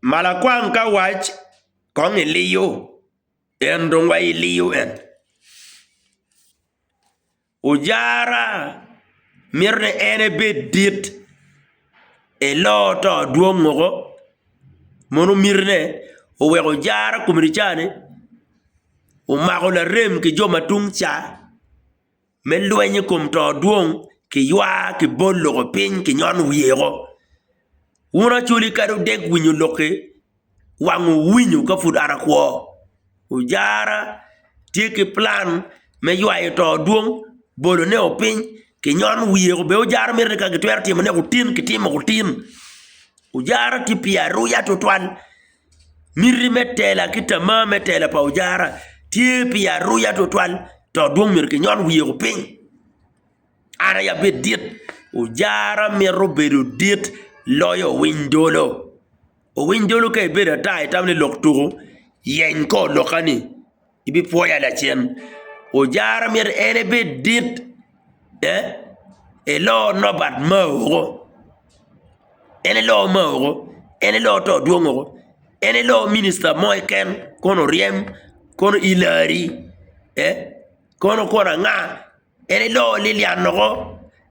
Malakwang ka wac kong iliyo en dong wa iliyo en ojara mito ni en ebed dit elo to dwong woko mono miti ne oweko ojara komedi cani omako larem ki jo ma tung ca. me lweny i kom to dwong, kiywa, kibol loko piny, kinyon wiye woko. Wun acoli kadi wudek winyo lok-ki, wangwu winyo ka pud an akwo. Ojara tye ki plan me ywayo to dwong, bolo neko piny, ki nyon wiye woko. Bene ojara mito ni ka gitwero timo neko otin, kitimo otin. Ojara tye pi aruya tutwal. Miti me tela ki tamar me tela pa ojara tye pi aruya tutwal dok dong myero kinyon wiyeo piny. An aye abed dit, ojara mito bedo dit loyo owiny dolo. Owiny dolo ka ibedo ata itamo ni lok tuku yeny kor lokkani. ibipwoya lacen. Ojara myero en ebed dit, ee, elo nobat mao woko, en elo mao woko, en elo to dwong woko, en elo minista mo keken kono oryem, kono Ilari, ee, kono kono anga, en elo lilian woko.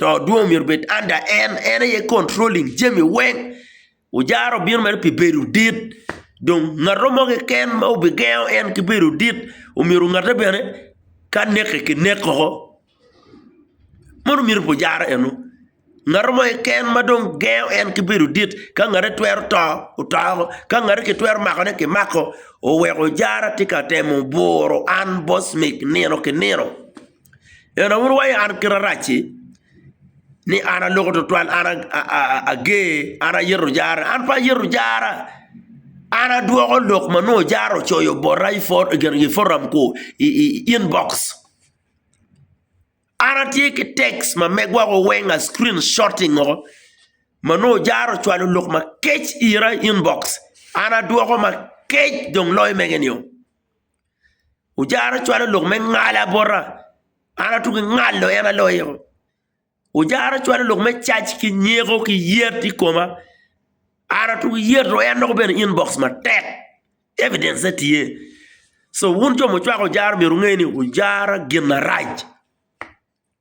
to dwong myero obed under en, en aye controlling jami weng, ojara obino mere pi bedo dit, dong ngat mo keken ma obigengo en ki bedo dit omyero ngatte bene ka neke kinek woko, meno miti pa ojara eno, ngat mo keken ma dong gengo en ki bedo dit ka ngatte twero to oto woko, ka ngatte kitwero makone kimako, oweko ojara tye ka temo buro an boss mig nino ki nino. En awobi wa an kite arac-ci ni an aloko tutwal an ager an ayito jara an pe ayito jara an adwoko lok ma nongo jara ocoyo bota i foram ku i inbox an atye ki text ma megwa wa weng a screen shotting o ma nongo jara ocwalo lok makec ira i inbox an adwoko makec dong loyo mege nio. Ojara ocwalo lok me ngala bota, an atuk ki ngalo en aloyo. Ojara ocwalo lok me cac ki nyeko ki yet i koma, an atuk yet dong en dok obene inbox matek, evidence-ne tye. Co wun jo mucwako ojara myero wunge ni ojara gin marac.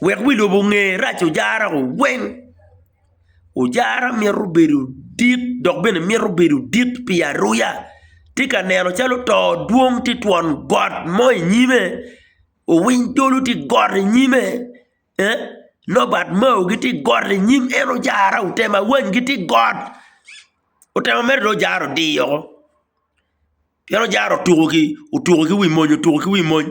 Wek wi lobo onge rac ojara weng. Ojara mito bedo dit dok bene mito bedo dit pi aruya. Tye ka neno calo oto dwong tye i twon got mo i nyime, owiny dolo tye i got i nyime, ee nobat mao gitye i got i nyim en ojara, otemo awany gitye i got, otemo mere dong ojara odiyo woko pien ojara otuko ki wi mony otuko ki wi mony.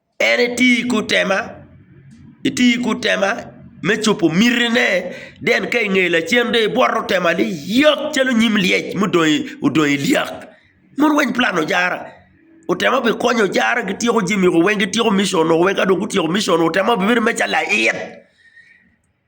En eti i kut tema, eti i kut tema me cobo mitine, den ka inge lacen dong ibwoto tema ni yok calo nyim lyec ma odong i lyak. Mon weng plan ojara, otema obi konyo ojara gityeko jami weng, gityeko mission weng ka dong gutyeko mission otema obi bedo mere calo lait.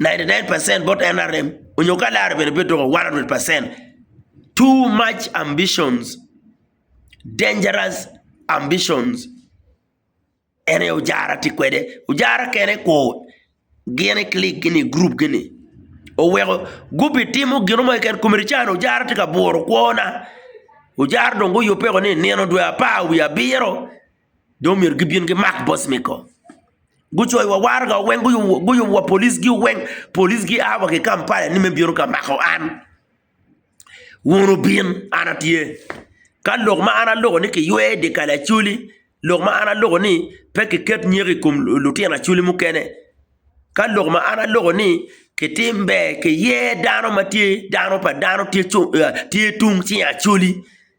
99 percent bot NRM onyo ka lare bene pe doko 100 percent too much ambitions dangerous ambitions en aye ojara tye kwede ojara kene kur gin i click gi ni group gi ni oweko gubitimo gin mo keken kome ni cani ojara tye ka buro kwona ojara dong guyubbe ni nino dwe apar wiye abiro. jo omyero gibin gimak boc me kom, gucoyo wa waraga wa weng, guyubo wa police gi weng, police gi a wa ki Kampala ni me bino ka mako an, wun wubin an atye, ka lok ma an aloko ni kiywe i di kal Acholi, lok ma an aloko ni pe ki ket nyeko i kom lutino Acholi mukene, ka lok ma an aloko ni kitim ber, kiye dano ma tye dano pa dano tye cung, tye tung cing Acholi.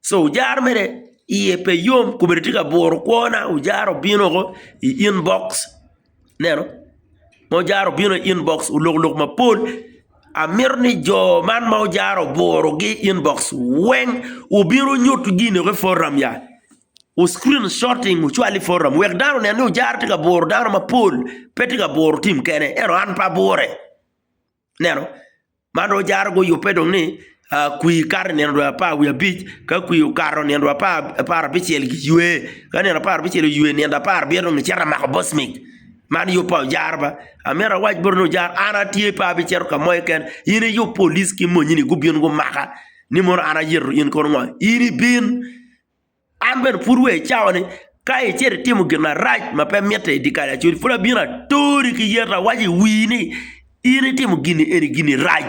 so ojaro mere iye pe yom kome tye ka buro kwona ojaro obino woko i inbox ineno ma ojaro obino i inbox olokoloko mapol amito ni jo man ma ojaro oburogi i inbox weng obin onyut gine woko i program ya o screen shorting ocwal i program wek dano onen ni ojaro tye ka buro dano mapol pe tye ka buro tim kene ento an pe abure. Ineno? Man dong jaro guyubbe dong ni kwir kato i nino dwe apar wiye abic, ka kwir okato nino dwe apar abicel giywe, ka nino apar abicel oywe nino dwe apar abiro dong gicito ka mako bocmik. Man yub pa ojara ba. Amito awac boti ni ojara an atye pe abicito ka mo keken, in iyub polic ki monyini gubin gumaka ni mono an ayeto in kono ngo? In ibin. An bene pud wa icawa ni, ka icito itimo gin marac ma pe mitte i dye kal acwec, pud abino atori ki yet, awaco i wii ni, In itimo gin ni eni gin-ni rac,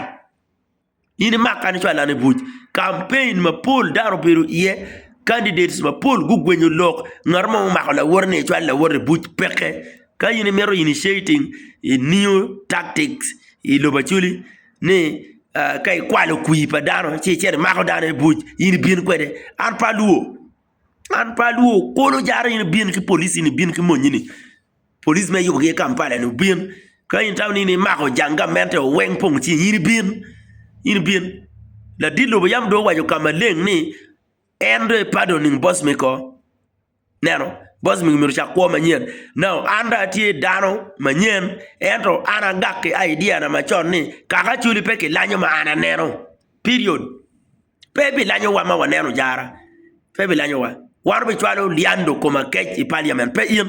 in imaka nicwaloan i buc. Campaign mapol dano obedo iye, candidates mapol gugwenyo lok, ngat mo omako lawote ni ecwal lawote i buc, peke. Ka in imito initiating, i new tactics i lobo Acholi, ni ka ikwalo kwir pa dano ci icito imako dano i buc in ibin kwede an pe alwor an pe alwor kulu jara in ibin ki police ni ibin ki monyini police ma iyubogi i Kampala ni obin ka in itamo ni imako jang gamente o weng pong cing in ibin in ibin ladit lobo yam dong owaco ka maleng ni en dong epado nining boss me kor Neno, boss mi omyero ocak kwo manyen. Now, an dong atye dano manyen, ento an agak ki idea na macon ni, kaka actually pe kilanyo ma an aneno. Period. Pe bilanyowa ma waneno jara. Pe bilanyowa. Wan obicwalo liando koma kec i parliament, pe in.